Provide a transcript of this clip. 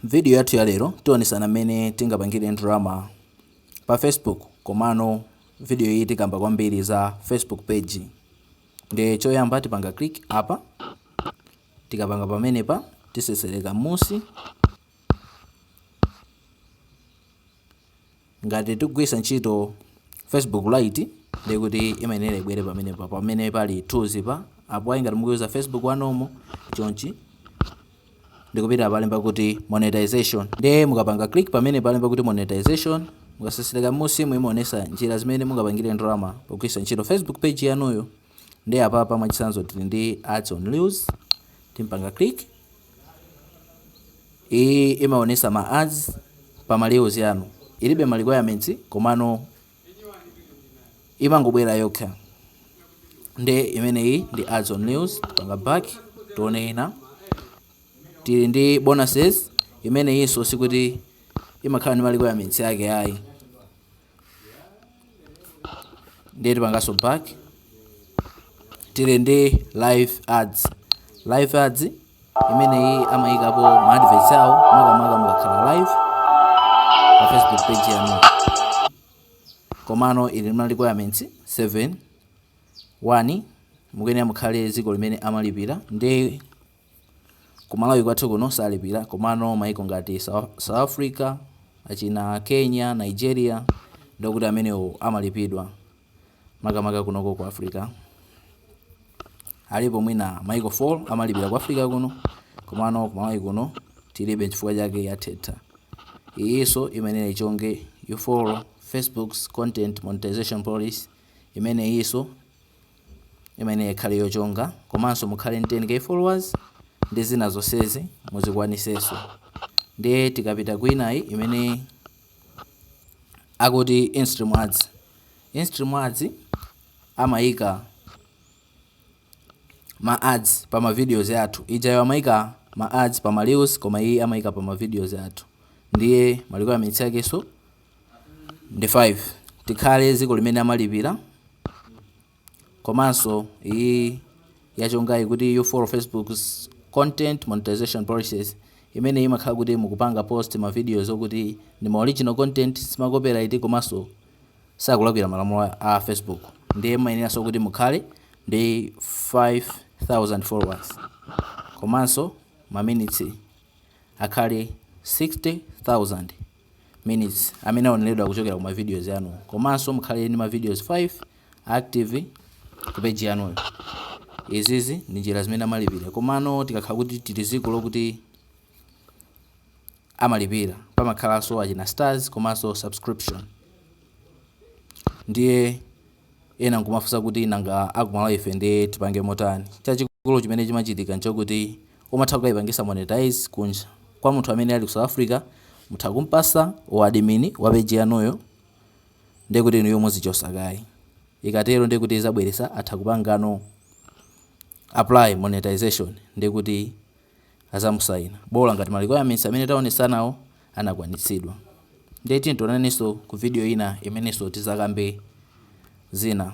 M'vidiyo yathu ya lero, tionetsana mmene tingapangire ndalama pa Facebook. Komano vidiyo iyi tikamba kwambiri za Facebook page. Ndiye choyamba tipanga click apa. Tikapanga pamenepa, tisesereka mmusi. Ngati tikugwiritsa ntchito Facebook Lite ndiye kuti imayenera ibwere pamenepa pamene pali tools pa apo ayi ngati mukuuza Facebook ya normal chonchi ndikupita palemba kuti monetization ndiye mukapanga click pamene palemba kuti monetization mukasesereka m'munsi imaonesa njira zimene mungapangire ndalama pogwiritsa ntchito Facebook page yanuyo Ndiye apapa mwachitsanzo tili ndi ads on reels, ndipanga click iyi imaonesa ma ads pa ma reels anu, ilibe ma requirements komano imangobwera yokha. Nde imeneyi ndi ads on reels, ndipanga back tione ina. Tili ndi bonuses, imeneyinso sikuti imakhala ndi ma requirements yake ayi, ndiye tipanganso back tili ndi live ads live ads imeneyi amayikapo ma adverts awo makamaka mukakhala live pa facebook page yanu komano ili ndi ma requirements 7 1 mukuyenera mukhale dziko limene amalipira ndi Ku Malawi kwathu kuno salipira komano maiko ngati South Africa, achina Kenya, Nigeria ndiye kuti amenewo amalipidwa makamaka kunoko ku Africa. Alipo mwina maiko 4 amalipira ku Africa kuno komano ku Malawi kuno tilibe chifukwa chake yathatha. Iyinso imayenera ichonge you follow Facebook's content monetization policy imeneyinso imayenera ikhale yochonga komanso mukhale ndi 10K followers ndi zina zonsezi muzikwanitsenso ndiye tikapita kwinayi imene akuti instream ads instream ads amayika ma ads pa ma videos athu ijayo amayika ma ads pa ma reels koma iyi amayika pa ma videos athu ndiye ma requirements yakenso ndi 5 tikhale ziko limene amalipira komanso iyi yachongayi kuti you follow facebook's content monetization policies imeneyi imakhala kuti mukupanga post ma videos okuti ndi ma original content sima copyright komanso sakulakwira malamulo a- a facebook ndiye mumayeneranso kuti mukhale ndi 5000 followers komanso ma minutes akhale 60000 minutes amene aoneredwa kuchokera ku ma videos anu komanso mukhale ndi ma videos 5 active ku page yanuyo izizi ndi njira zimene amalipira komano tikakhala kuti tili dziko lokuti amalipira pamakhalanso achina stars komanso subscription ndiye Ena nkumafunsa kuti nanga akumalawi ife nde tipange motani? Chachikulu chimene chimachitika nchokuti mumatha kukaipangisa monetise kunja kwa munthu amene ali ku South Africa mutha kumpasa u admin wa page yanuyo ndekuti inuyo muzichosa kaye ikatero ndekuti izabweresa atha kupangano apply monetization ndekuti azamusaina bola ngati ma requirements amene taonesanawo anakwanitsidwa. Ndiye tiyeni tionanenso ku video ina imenenso tizakambe zina.